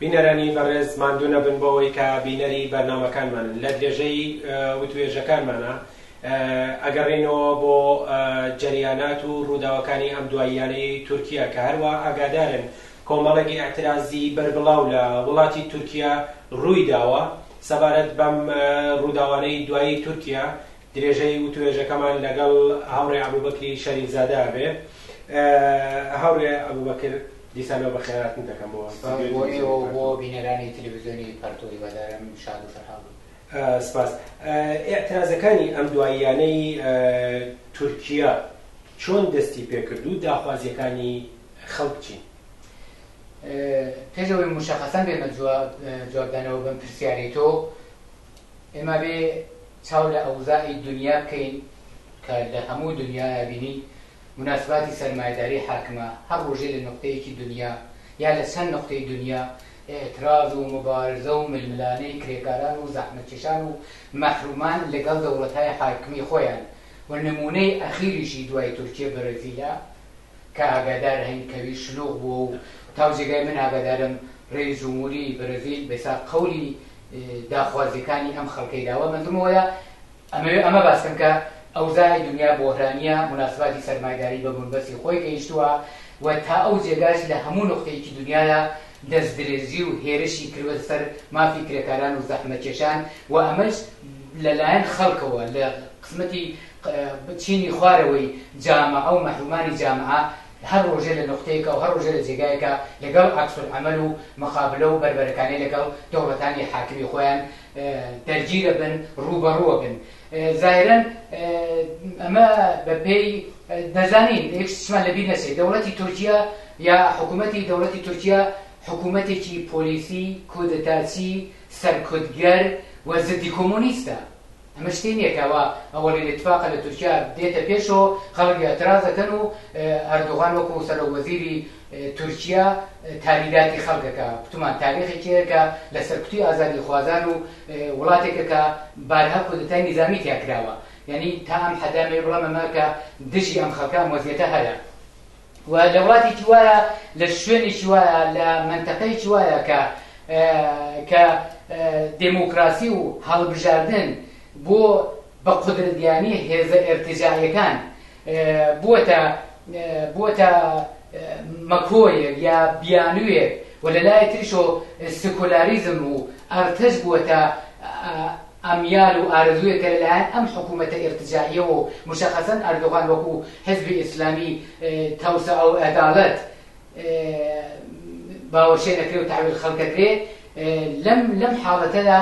بینەرانی بەڕێز ماندوو نەبن بۆوەی کە بینەری بەرنامەکانمانن لە درێژەی وتوێژەکانمانا ئەگەڕێینەوە بۆ جەریانات و ڕووداوەکانی ئەم دواییانەی تورکیا کە هەروا ئاگادارن کۆمەڵێک ئیعترازی بەربڵاو لە وڵاتی تورکیا ڕووی داوە سەبارەت بەم ڕووداوانەی دوایی تورکیا درێژەی وتوێژەکەمان لەگەڵ هاوڕێ ئەبوبەکری شەریفزادە ئەبێ. هاوڕێ ئەبوبەکر، دیسانەوە بەخێراتن دەکەم بۆ ستۆدیۆی سپاس بۆ تەلەفزیۆنی ئێوە و پەرتو. بۆ بینەرانی تەلەفزیۆنی پەرتو، هیوادارم شاد و سەرحاڵ بن. سپاس. ئیعترازەکانی ئەم دواییانەی تورکیا چۆن دەستی پێکرد و داخوازییەکانی خەڵک چین؟ پێش ئەوەی موشەخەسەن بێمە جواب جوابدانەوە بەم پرسیارەی تۆ، ئێمە بێ چاو لە ئەوزاعی دونیا بکەین کە لە هەموو دونیایا بینین موناسباتی سەرمایەداری حاکمە، هەر ڕۆژێ لە نوقتەیەکی دونیا یا لە چەند نوقتەی دونیا ئیعتراز و موبارزە و ململانێی کرێکاران و زەحمەتکێشان و مەحرومان لەگەڵ دەوڵەتای حاکمی خۆیان و نموونەی ئەخیریشی دوای تورکیە بەرەزیلە کە ئاگادار هەین کەوی شلوغ بووە و تاو جێگای من ئاگادارم رێی جمهوری برزیل بێساغ قەولی داخوازیەکانی ئەم خەڵکەی داوە مەنزمەوەیە ئەمەوێ ئەمە باسکەم کە ئەوزای دنیا بۆهرانیە مناسباتی سەرمایداری بە بنبەستی خۆی گەیشتووە و تا ئەو جێگاش لە هەموو نقطەیەکی دنیاە دەست درێژی و هێرشی کردوە سەر مافی کرێکاران و زەحمەکێشان و ئەمەش لەلایەن خەڵکەوە لە قسمەتی چینی خوارەوەی جامعە و مەحرومانی جامعە هەر ڕۆژێ لە نوقتەیەکە و هەر ڕۆژێ لە جێگایەکە لەگەڵ عەکس العمل و مقابلە و بەربەرەکانێ لەگەڵ دەوڵەتانی حاکمی خۆیان دەرگیرە بن ڕووبەڕووە بن زاهرەن ئەمە بە پێی دەزانین یەک شتمان لەبیر نەچێ دەوڵەتی تورکیا یا حکوومەتی دەوڵەتی تورکیا حکوومەتێکی پۆلیسی کودەتاچی سەرکوتگەر و زدی کۆمۆنیستە ئەمە شتێ نیە کە ئەوە ئەوەلین اتفاقە لە تورکیا دێتە پێشەوە خەڵک ئیعتراز ئەکەن و ئەردوغان وەکو سەرۆک وەزیری تورکیا تالیداتی خەڵکەکە پتومان تاریخێکی هەیە کە لە سەرکوتی ئازادی خوازان و وڵاتێکە کە بارها کودتای نیزامی تیا کراوە یعنی تا ئەم حەدامێ بڵەمەمە کە دژی ئەم خەڵکە ئەم وەزیەتە هەیە و لە وڵاتێکی وایە لە شوێنێکی وایە لە مەنتەقەیەکی وایە کە کە دێموکراسی و هەڵبژاردن بۆ بە قودرەتگیانی هێزە ئێرتجاعیەکان بووەتە بووەتە مەکۆیەک یا بیانوێک و لە لای تریشۆ سکۆلاریزم و ئەرتەش بووەتە ئەمیال و ئارەزوویەکە لەلایەن ئەم حکوومەتە ئیرتجاعییەوە و موشەخەسەن ئەردۆغان وەکوو حیزبی ئیسلامی تەوسعە و عەدالەت باوەشێن ئەکرێ و تەحویل خەلک ئەکرێ. لەم لەم حاڵەتەدا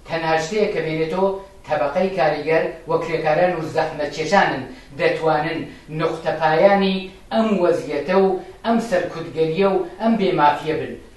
تەنها شتێ کە بێنێتۆ تەبەقەی کاریگەر و کرێکاران و زەحمەتکێشانن دەتوانن نوقتەپایانی ئەم وەزییەتە و ئەم سەرکوتگەرییە و ئەم بێ مافییە بن.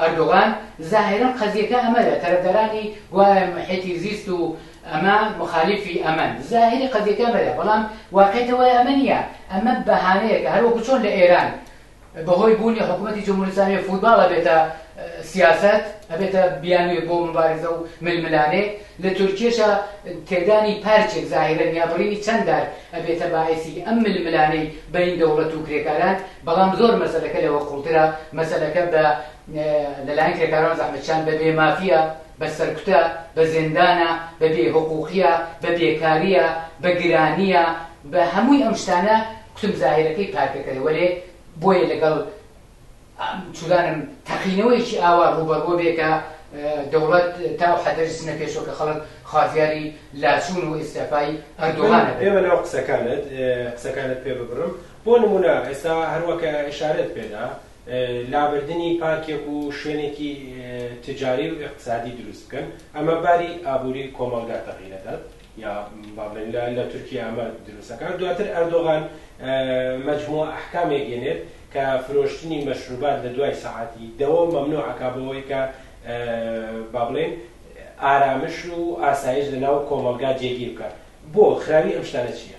ئەردۆغان، زاهیرەن قەزیەکە ئەمەلە تەرەفدارانی گوایە محیتی زیست و ئەمە موخالیفی ئەمەن زاهیری قەزیەکە ئەمەلە بەڵام واقیعەکە وایە ئەمە نیە ئەمە بەهانەیەکە هەروەکو چۆن لە ئێران بەهۆی بوونی حکومەتی جمهوری ئسلامی فوتباڵ ئەبێتە سیاسەت ئەبێتە بیانوێ بۆ مبارزە و ململانێ لە تورکیەشە تێکدانی پارچێک زاهیرەن یا بڕینی چەند دار ئەبێتە باعسی ئەم ململانەی بەین دەوڵەت و کرێکاران بەڵام زۆر مەسەلەکە لەوە قوڵترە، مەسەلەکە بە لەلایەن کرێکاران و زەحمەتکێشان بە بێ مافییە، بە سەرکوتە، بە زێندانە، بە بێ هوقووقییە، بە بێکارییە، بە گرانییە، بە هەمووی ئەم شتانە کوتم زاهیرەکەی پارکەکەیە، وەلێ بۆیە لەگەڵ چورانم تەقینەوەیەکی ئاوا ڕووبەڕووە بێ کە دەوڵەت تا ئەو حەددەش چنە پێشەوە کە خەڵک خوازیاری لاچوون و ئیستیعفای ئەردۆغانە بێ. ئێمە لەو قسەکانت قسەکانت پێ ببڕم، بۆ نموونە ئێستا هەروەک ئیشارەت پێدا لابردنی پارکێک و شوێنێکی تجاری و اقتصادی دروست بکەن ئەمە باری ئابووری کۆمەڵگا تەغیرەدات یا بابلین لە لە تورکیا ئەمە دروستەکان دواتر ئەردۆغان مجموع ئەحکامێک گێنێت کە فرۆشتنی مەشروبات لە دوای سەعاتی دەوە مەمنوعەکە بەوەی کە بابلین ئارامش و ئاسایش لە ناو کۆمەلگا جێگیر بکات بۆ خراوی ئەم شتانە چییە؟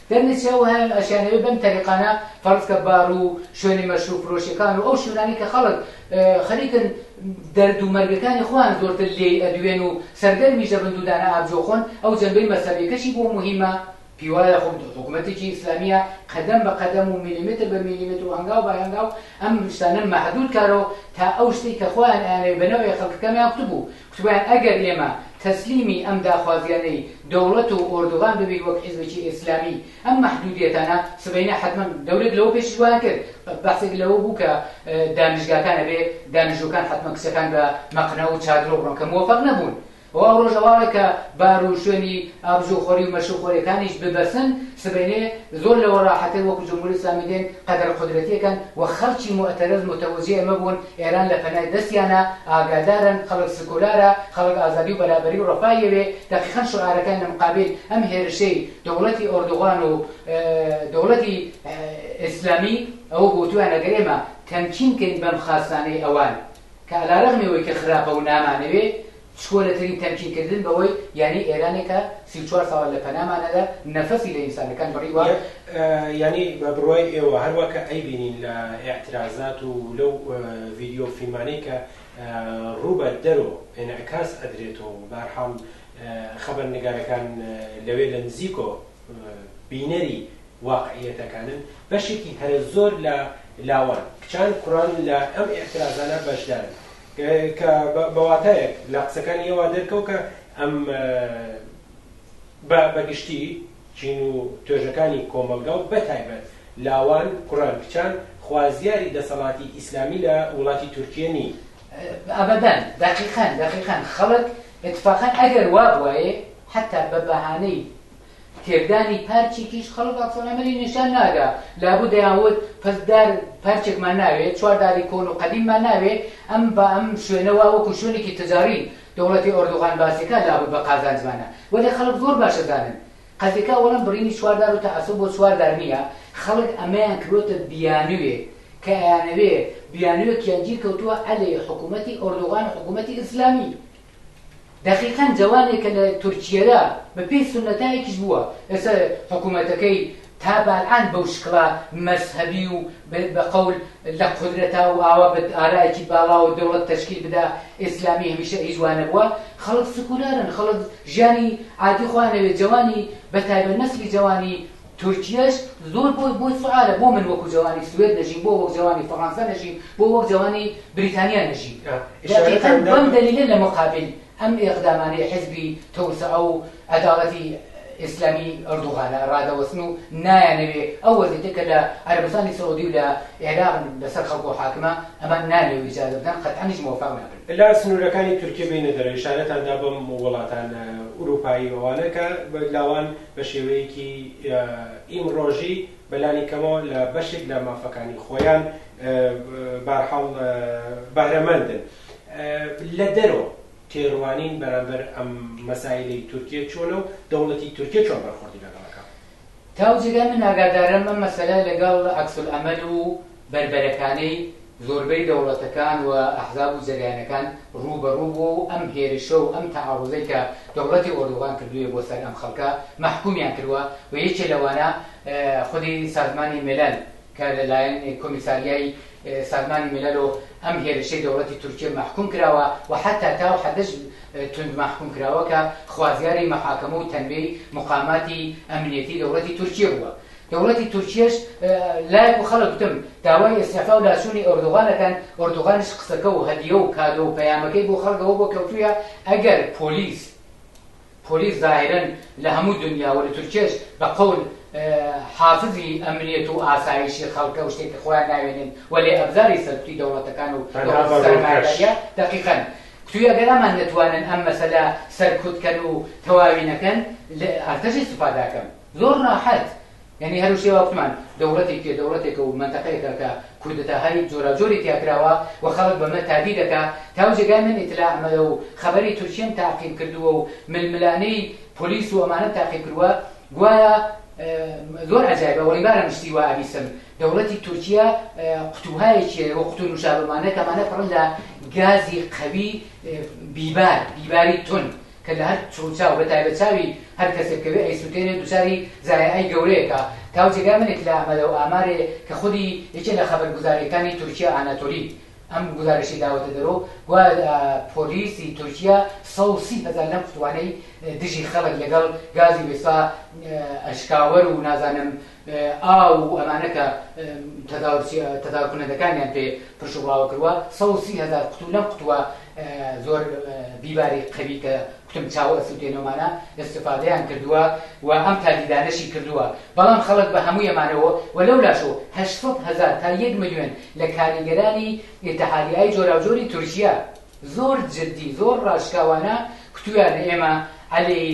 دەرنەچێ ئەو هەیانو ئەشیانەوێ بەم تەریقانە فەرز کە بارو شوێنی مەشروب فرۆشیەکانو ئەو شوێنانەی کە خەڵک خەریکن دەردو مەرگەکانی خۆیان زۆرتر لێی ئەدوێنو سەرگەرمیش دەبن دودانە ئابجۆ خۆن ئەو جەنبەی مەزهەبیەکەشی بۆ موهیمە پیوایە خۆ حکومەتێکی ئیسلامیە قەدەم بە قەدەمو میلیمتر بە میلیمترو هەنگاو بە هەنگاو ئەم شتانە مەحدود کارەوە تا ئەو شتەی کە خۆیان ئەیانەوێ بەنەوەی خەڵکەکەمیان کوتبوو تکایە ئەگەر ئێمە تەسلیمی ئەم داخوازیانەی دەوڵەت و ئۆردوغان ببین وەک حیزبێکی ئێسلامی ئەم مەحدودیەتانە سبەینێ حەتمەن دەورێک لەوە پێشیش وایان کرد بەحسێک لەوە بوو کە دانیشگاکان ئەبێ دانیشجوکان حەتمەن کچەکان بە مەقنە و چادرۆ بڕۆن کە موەفەق نەبوون و ئەو ڕۆژە واڵێ کە بار و شوێنی ئابژوخۆری و مەشروبخۆریەکانیش ببەسن سبەینێ زۆر لەوە ڕاحەتر وەکو جمهوری ئیسلامی دێن قەدەر قودرەتیەکەن و خەڵکی موعتەرەز متوجهی ئەمە بوون ئێران لە پەنای دەستیانە، ئاگادارن خەڵک سکۆلارە، خەڵک ئازادی و بەرابەری و ڕەفا یەوێ، دەقیقەن شعارەکان لە مقابیل ئەم هێرشەی دەوڵەتی ئۆردوغان و دەوڵەتی ئیسلامی ئەوە گۆتویان ئەگەر ئێمە تەمکین کەین بەم خاستانەی ئەوان کە ئەلارەغمی ئەوەی کە خراپە و نامانەوێ چکۆلەترین تەمکین کردن بەوەی یانی ئێرانێک کە سی و چوار ساڵە لە پەنامانەدا نەفەسی لە ئینسانەکان بڕیوە. یانی بە بڕوای ئێوە هەر وا کە ئەیبینین لە ئیعترازات و لەو ڤیدیۆ و فیلمانەی کە ڕوو بە دەرۆ ئینعکاس ئەدرێتۆ و بە هەر حاڵ خەبەرنگارەکان لەوێ لە نزیکۆ بینەری واقعییەتەکانن بەشێکی هەرە زۆر لە لاوان، کچان، کوڕان لە ئەم ئیعترازانە بەشدارن. کە بە واتایەک لە قسەکانی ئێ وا دەرکەو کە ئەم بە بە گشتی چین و توێژەکانی کۆمەڵگا و بە تایبەت لاوان، کوڕان، کچان خوازیاری دەسەڵاتی ئیسلامی لە وڵاتی تورکیە نین. ئەبەدەن، دەقیقەن، دەقیقەن، خەڵک ئیتفاقەن ئەگەر وا بوایێ حەتتا بە بەهانەی تێکدانی پارچێکیش خەڵک عەکسەلعەمەلی نیشان نادا، لابوو دەیانوت پس دار پارچێکمان ناوێ، چوار داری کۆن و قەدیممان ناوێ، ئەم بە ئەم شوێنە وا وەکو شوێنێکی تجاری دەوڵەتی ئۆردوغان باسیکا لابوود بە قازانجمانە، وەلێ خەڵک زۆر باش ئەزانن قەزیکا ئەوەڵەن بڕینی چوار دار و تەعەسوب بۆ چوار دار نییە، خەڵک ئەمەیان کردووەتە بیانووێک کە ئەیانەوێ بیانووێکیان گیر کەوتووە عەلەی حکوومەتی ئۆردوغان و حکوومەتی ئیسلامی. دەقیقەن جەوانێکە لە تورکیەدا بە پێی سونەتایەکیش بووە ئێستا حکومەتەکەی تا بەالان بەو شکڵە مەزهەبی و بە قەول لە قودرەتا و ئاوا بە ئارایەکی باڵاوە دەوڵەت تەشکیل بدا ئیسلامی هەمیشە هیچ وا نەبووە خەڵک سکولارن خەڵک ژیانی عادی خۆیان ئەوێ جەوانی بە تایبەت نەسلی جەوانی تورکیەش زۆر بۆی بۆی سوعالە بۆ من وەکو جەوانی سوێد نەژیم بۆ وەک جەوانی فەڕانسە نەژیم بۆ وەک جەوانی بریتانیا نەژیم دەقیقا بەم دەلیلە لە مقابل ئەم ئیقدامانەی حزبی تەوسعە و عەداڵەتی ئیسلامی ئەردوغانە ڕادەوەستن و نایانەوێ ئەو وەزیتە کە لە عەرەبستانی سعودی و لە عێراق بەسەر خەڵکۆ حاکمە ئەمان نانەوێ ئیجازە بدەن قەتعەنیش مۆفاق نابن لا سنورەکانی تورکیە بینە دەرە ئشارەتان دا بەم وڵاتان ئوروپایی ئەوانە کە لاوان بە شێوەیەکی ئیمڕۆژی بە لانی کەمەوە لە بەشێک لە مافەکانی خۆیان بارحاڵ بەهرەمەندن لە دەرۆ تێڕوانین بەرامبەر ئەم مەسایلی تورکیە چۆنە و دەوڵەتی تورکیە چۆن بەرخۆردی لەگەڵەکە تاو جێگای من ئاگادارم ئەم مەسەلە لەگەڵ عەکسولعەمەل و بەربەرەکانەی زۆربەی دەوڵەتەکان و ئەحزاب و جەریانەکان ڕووبەڕوو بووە و ئەم هێرشە و ئەم تەعەڕوزەی کە دەوڵەتی ئۆردوغان کردوویە بۆ سەر ئەم خەڵکە مەحکوومیان کردووە و یەکێ لەوانە خودی سازمانی میلل کە لە لایەن کۆمیساریای سازمانی میللەوە ئەم هێرشەی دەوڵەتی تورکیە مەحکووم کراوە و حەتا تاو حەدەش توند مەحکووم کراوە کە خوازیاری مەحاکەمە و تەنبیەی موقاماتی ئەمنیەتی دەوڵەتی تورکیە بووە دەوڵەتی تورکیەش لایەک و خەڵک گوتم داوای ئیستیعفا و لاچوونی ئۆردوغان ئەکەن، ئۆردوغانیش قسەکە و هەدیە و کادۆ و پەیامەکەی بۆ خەڵک ئەوە بۆ کەوتوویە ئەگەر پۆلیس پۆلیس زاهیرەن لە هەموو دونیا و لە تورکیەش بە قەول حافزی ئەمنیەت و ئاسایشی خەڵکە و شتێکی خۆیان ناوێنن وەلێ ئەبزاری سەرکوتی دەوڵەتەکان و تەنها بە ڕووکەش. سەرمایەداریە دەقیقەن توی ئەگەر ئەمان نەتوانن ئەم مەسەلە سەرکوتکەن و تەواوی نەکەن لە ئەرتەشی سوپا داکەم. زۆر راحەت یانی هەر شتێ واوتمان دەوڵەتی کێ دەوڵەتێکە و مەنتەقەیەکە کە کودەتاهای جۆراوجۆری تیا کراوە و خەڵک بەمە تادی دەکا تاو جێگای من ئیتلاعمەیە و خەبەری تورکیم تاقیم کردووە و ململانێی پۆلیس و ئەمانەم تاقیم کرووە گوایە زۆر عجایبە وەڵی بارم شتی وا ئەبیسم دەوڵەتی تورکیا قوتوهایەکیە وە قوتو نوشابەمانە کەمانە پڕن لە گازی قەوی بیبار بیباری تون کە لە هەر چڕوچاو بە تایبەت چاوی هەر کەسێ بکەوێ ئەیسوتێنێ دوچاری زایەعەی گەورەیە کە تاو جێگای منێ کلە ئەمەلە و ئامارێ کە خودی یەکێ لە خەبەر گوزاریەکانی تورکیا ئاناتۆلی ئەم گوزارەشەی داوەتە دەرو گوایە پۆلیسی تورکیا سەد و سی هەزار لەم قوتوانەی دژی خەلک لەگەڵ گازی وێسا ئەشکاوەر و نازانم ئاو و ئەمانە کە تەدارککنەکەکانیان پێ پرش و بڵاوە کردوە سەد و سی هەزار قوتو لەم قوتوە زۆر بیباری قەوی کە کوتم چاوە ئەسوتێنەوەمانە ئستفادەیان کردووە و ئەم تالیدانەشی کردووە بەڵام خەڵک بە هەموو ئەمانەوە و لەو لاشۆ هەشت سەد هەزار تا یەک ملیۆن لە کاریگەرانی ئتحادیای جۆراوجۆری تورکیا زۆر جدی زۆر ڕاشکاوانە کوتویانە ئێمە عەلەی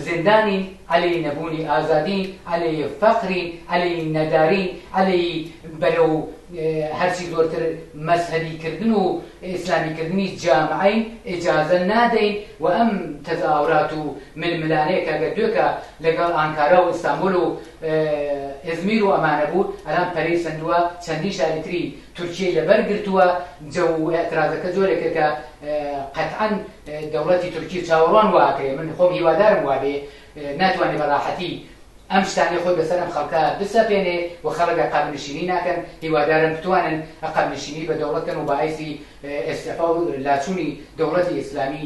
زیندانین عەلەی نەبوونی ئازادین عەلەی فەقرین عەلەی نەدارین عەلەی بەرەو هەرچی زۆرتر مەزهەبی کردن و ئیسلامی کردنی جامعەین ئیجازە نادەین و ئەم تەزاورات و ململانێ کە گەر دوێکە لەگەڵ ئانکارا و ئیستانبول و ئیزمیر و ئەمانە بوو ئەلان پەرەی سەندوە چەندین شاری تری تورکیەی لەبەر گرتووە جە و ئێعترازەکە جۆرێکە کە قەتعەن دەوڵەتی تورکی چاوەڕوان واکرێ من خۆم هیوادارم وابێ ناتوانێ بە ڕاحەتی ئەم شتانەی خۆی بەسەر ئەم خەڵکە بسەپێنێ و خەڵک عقاب نشینی ناکەن هیوادارن بتوانن عقاب نشینی بە دەوڵەت کەن و بەعیسی ئێستعفا و لاچوونی دەوڵەتی ئیسلامی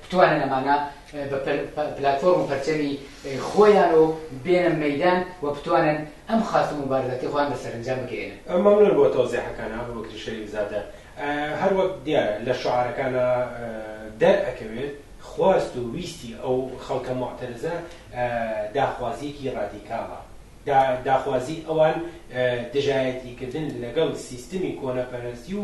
بتوانن ئەمانە بە پلاتفۆرم و پەرچەمی خۆیان و بێنە مەیدان و بتوانن ئەم خواست و موبارزاتی خۆیان بە سەرەنجام بگەیەنن. مەمنون بۆ تەوزیحەکان ئابوبەکر شەریف زادە. هەر وەک دیارە لە شوعارەکانا دەر ئەکەوێت خواست و ویستی ئەو خەڵکە موعتەرزە داخوازیەکی ڕادیکاڵە. داخوازی ئەوان دژایەتی کردن لەگەڵ سیستمی کۆنەپەرەستی و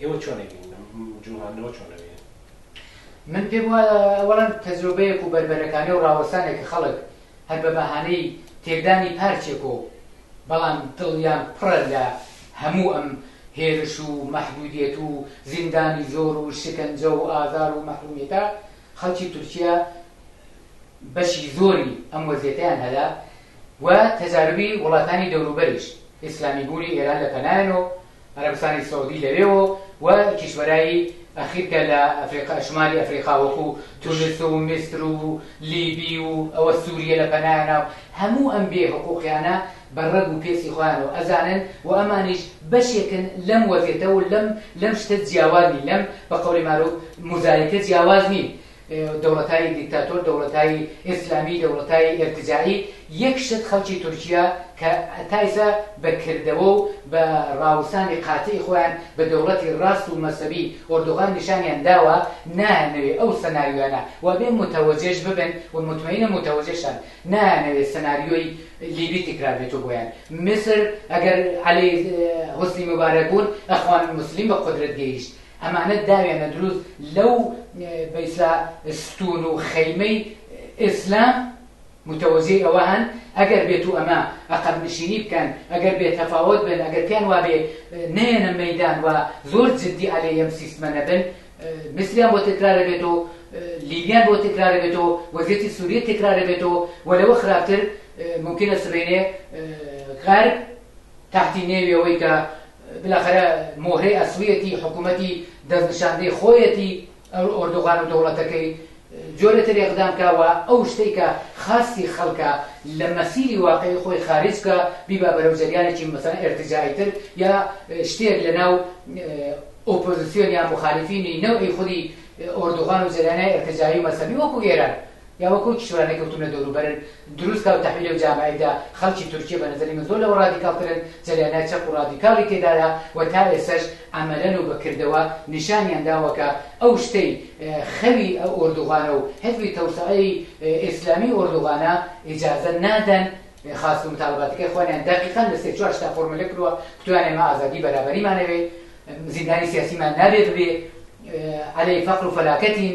ئێوە چۆن ئەبینن ئەم جوڵاندنەوە چۆن ئەبینن؟ من پێم وایە ئەوەڵەن تەجرۆبەیەک و بەربەرەکانێ و ڕاوەسانێک کە خەڵک هەر بە بەهانەی تێکدانی پارچێک و بەڵام دڵیان پڕە لە هەموو ئەم هێرش و مەحدودیەت و زیندانی زۆر و شکنجە و ئازار و مەحرومیەتە خەڵکی تورکیا بەشی زۆری ئەم وەزیەتیان هەلا و تەجاربی وڵاتانی دەوروبەریش ئیسلامی بوونی ئێران لە پەنایەن و عەرەبستانی سعودی لەوێوە و کیشوەرای ئەخیر کە لە ئەفریقا شمالی ئەفریقا وەکو تونس و میسر و لیبی و ئەوە سوریە لە پەنایانە و هەموو ئەم بێ حقوقیانە بە ڕەگ و پێستی خۆیانەوە ئەزانن و ئەمانیش بەشێکن لەم وەزیەتە و لەم لەم شتە جیاواز نین لەم بە قەولی مارو موزایکە جیاواز نین دەوڵەتای دیکتاتۆر دەوڵەتای ئیسلامی دەوڵەتای ئیرتجاعی یەک شت خەڵکی تورکیا کە تا ئیسا بە کردەوە و بە ڕاوسانی قاتعی خۆیان بە دەوڵەتی ڕاست و مەزهەبی ئۆردوغان نیشانیان داوە نایانەوێ ئەو سناریۆیانە وابێ متەوەجێش ببن و متمەینم متەوەجێشن نایانەوێ سناریۆی لیبی تکرار بێتو بۆیان میسر ئەگەر عەلی حوسنی موبارەک بوون ئەخوان موسلیم بە قودرەت گەیشت ئەمانە داوێنە دروست لەو بەیسا ستون و خەیمەی ئیسلام متوەزی ئەوە هەن ئەگەر بێت و ئەمە ئەقەب نشینی بکەن ئەگەر بێت تەفاوت بن ئەگەر پێیان وابێ نێنە مەدان و زۆر جددی عەلێ یەم سیستمە نەبن میسریان بۆ تکرارە بێت و لیبیان بۆ تکرارە بێت و وەزیەتی سووریە تکرارە بێت و و لەوە خراپتر ممکنە سبێنێ غەرب تاحتی نێویەوەی کە بالاخرە مۆهرەی ئەسڵیەتی حکومەتی دەستنشاندەی خۆیەتی ئەو ئۆردوغان و دەوڵەتەکەی جۆرە تەرێقدان بکا و ئەو شتەی کە خواستی خەڵکە لە مەسیری واقعی خۆی خارج بکا بیبا بەرەو جەریانێکی مەسەلەن ئێرتجاییتر یا شتێک لەناو ئۆپۆزیسیۆن یا موخالیفینی نەوعی خودی ئۆردوغان و جەریانای ئێرتجایی و مەزهەبی وەکو ئێران یا وەک ئەو کیشوەرانەی کەوتوون لە دەوروبەرن دروست کا و تەحویل لەو جامەعەیدا خەڵکی تورکیە بە نەزەری من زۆر لەوە ڕادیکاڵترن جەریانای چەپ و ڕادیکاڵی تێدایە و تا ئێسەش عەمەلەن و بە کردەوە نیشانیان داوە کە ئەو شتەی خەوی ئە ئۆردوغانە و حزبی تەوسەعەی ئێسلامی ئۆردوغانە ئیجازە نادەن خواست و متالباتەکەی خۆیان دەقیقەن لە سێ چوار شتا فۆرمولە کروە کتوانێ مە ئازادی بەرابەریمان ئەوێ زیندانی سیاسیمان نابێ ببێ عەلەی فەقر و فەلاکەتین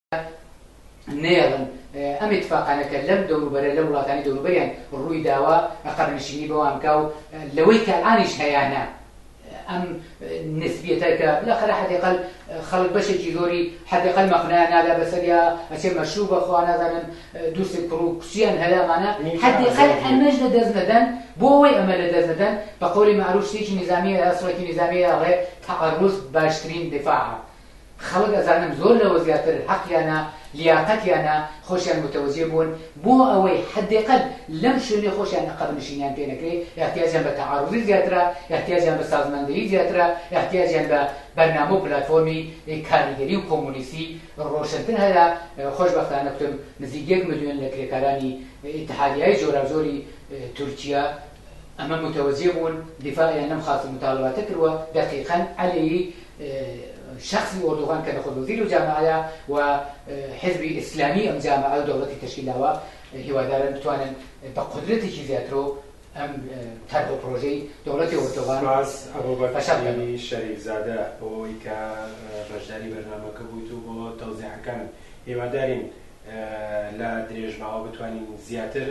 نەیەڵن ئەم اتفاقانەکە لەم دەوروبەرە لە وڵاتانی دەوروبەریان ڕووی داوە ئەقەرنشینی بەوانکە و لەوەی کە ئانیش هەیانە ئەم نسبیەتەکە لەخرا حدیقل خەڵک بەشێکی زۆری حدیقل مەخنایان نادا بەسەریا ئەچێ مەشروع بەخوا نازانن دووسێک کوڕ و کچیان هەلامانە حدیقل ئەمەش لە دەست نەدەن بۆ ئەوەی ئەمە لە دەست نەدەن بە قولی معروف شتێکی نظامیە سڕێکی نظامیە ڕێ تعرض باشترین دفاع خەڵک ئەزانم زۆر لەوە زیاتر هەقیانە، لیاقەتیانە، خۆشیان متەوەجێ بوون، بۆ ئەوەی حەدێقەل لەم شوێنەی خۆشیان ئەقەب نشینیان پێ نەکرێ، ئیحتیاجیان بە تەعاروزی زیاترە، ئیحتیاجیان بە سازماندەیی زیاترە، ئیحتیاجیان بە بەرنامە و پلاتفۆرمی کاریگەری و کۆمۆنیستی رۆشنتر هەیە، خۆشبەختانە کوتم نزیک یەک ملیۆن لە کرێکارانی ئیتحادیای جۆراوجۆری تورکیا ئەمە متەوەجێ بوون، دیفاعیان لەم خواست و متاڵەباتە کروە، دەقیقەن عەلیی شەخسی ئۆردوغان کە نەخۆد وەزیر و جامەعەیە و حزبی ئیسلامی ئەم جامەعە و دەوڵەتی تەشکیل داوە هیوادارن بتوانن بە قودرەتێکی زیاترو ئەم تەرح و پرۆژەی دەوڵەتی ئۆردوغان سوپاس فەشەل کەن. ئەبوبەکری شەریف زادە بۆ ئەوەی کە بەشداری بەرنامەکە بوویت و بۆ تەوزیحەکانت هیوادارین لە درێژماوە بتوانین زیاتر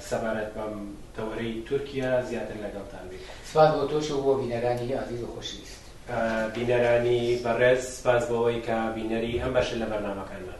سەبارەت بەم تەوەرەی تورکیا زیاتر لەگەڵتان بین. سپاس بۆ تۆش و بۆ بینەرانی ئازیز و خۆشەویست. بینەرانی بەڕێز سپاس بۆوەی کە بینەری ئەم بەشە لە بەرنامەکانمان.